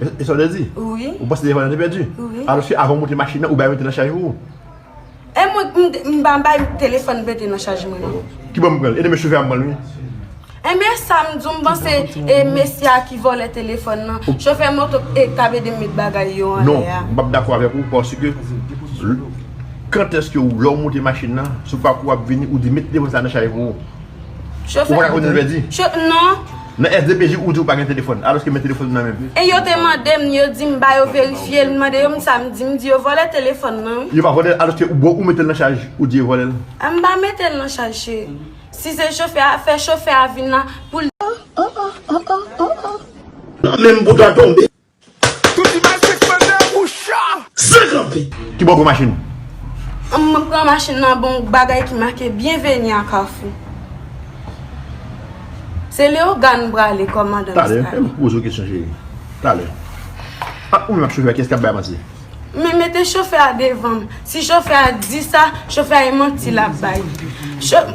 E sa w te di? Wi. Ou panse devan an te pèdi? Wi. Alòske avan w monte machin nan, ou bay mete nan chaj pou ou. E mwen, m pa bay telefòn mete nan chaj mwen non. Ki bò m pran l? E demen chofè a m pran l wi. Enben e sa m di w, m panse e mesye a ki vòlè telefòn nan, chofè moto e k ap ede m met bagay yo anlè a. Non, m pa p dakò avèk ou paske kantèske ou lè w monte machin nan, sou pakou w ap vini, ou di mete telefòn sa a nan chaj pou ou. Ou pa ka konnen lè di? Non. Nan SDPJ ou di ou pa gen telefòn, alòske men telefòn ou nan menm. E yo te mande m, yo di m ba yo verifye l, m mande yo m sa m di, m di yo vòlè telefòn mwen wi. Yo pa vòlè l alòske ou bon ou mete l nan chaj, ou di yo vòlè l. M pa mete l nan chaj cheri. Si se chofè a, fè chofè a vin la pou l. Nan menm bouda tonbe. Tout imaj se grandè ou cha. San kanpe! Ki bò gwo machin ou? An mwen pran machin nan ba yon bagay ki make Bienvenue à Carrefour. Se Léogâne m prale kòmandan Mistral. Talè, fè m poze w kesyon cheri. Talè. Ant ou menm ak chofè a, kiyès k ap bay manti? Men mete chofè a devan m. Si chofè a di sa, chofè a e manti l ap bay.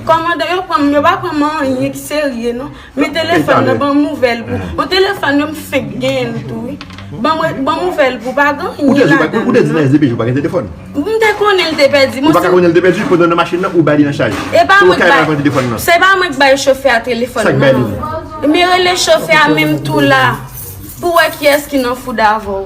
Kòmandan yo pran m, yo pa pran m anyen ki serye non. Men telefòn nan banm nouvèl pou. Bon telefòn yo m fenk genyen l tou wi. Banm nouvèl pou pa gen anyen ladan l non. Ou te di nan yon depèche ou pa gen telefòn? M te konnen l te pèdi. Ou pa ka konnen l te pèdi pandan w nan machin nan ou bay li nan chaj. Se pa mwen k bay. Ou ka pran telefòn nan. Se pa mwen k bay chofè a telefòn nan. Sa k bay li. Men rele chofè a menm tou la pou wè kiyès ki nan foud avè w.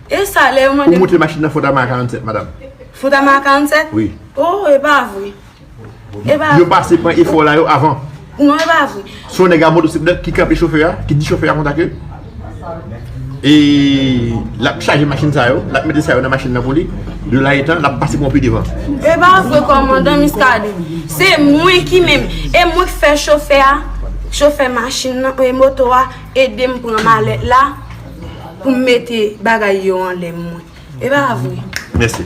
E sa lè yo mande. Pou moute machin nan fondama a 47 madam. Fondama a 47? Wi. Oh e pa vre. E pa vre. Yo pase pran efò la yo avan. Non e pa vre. Son nèg a motosiklèt ki kanpe chofè a, ki di chofè a konsa ke e lap chaje machin sa yo, lap mete sa yo nan machin nan pou li, de la etan lap pase pran pi devan. E pa vre kòmandan Miskaden. Se mwen ki menm. E mwen ki fè chofè a, chofè machin nan, e moto a, ede m pran malèt la. Pou m mete bagay yo anlè mwen. E pa vre? Mèsi.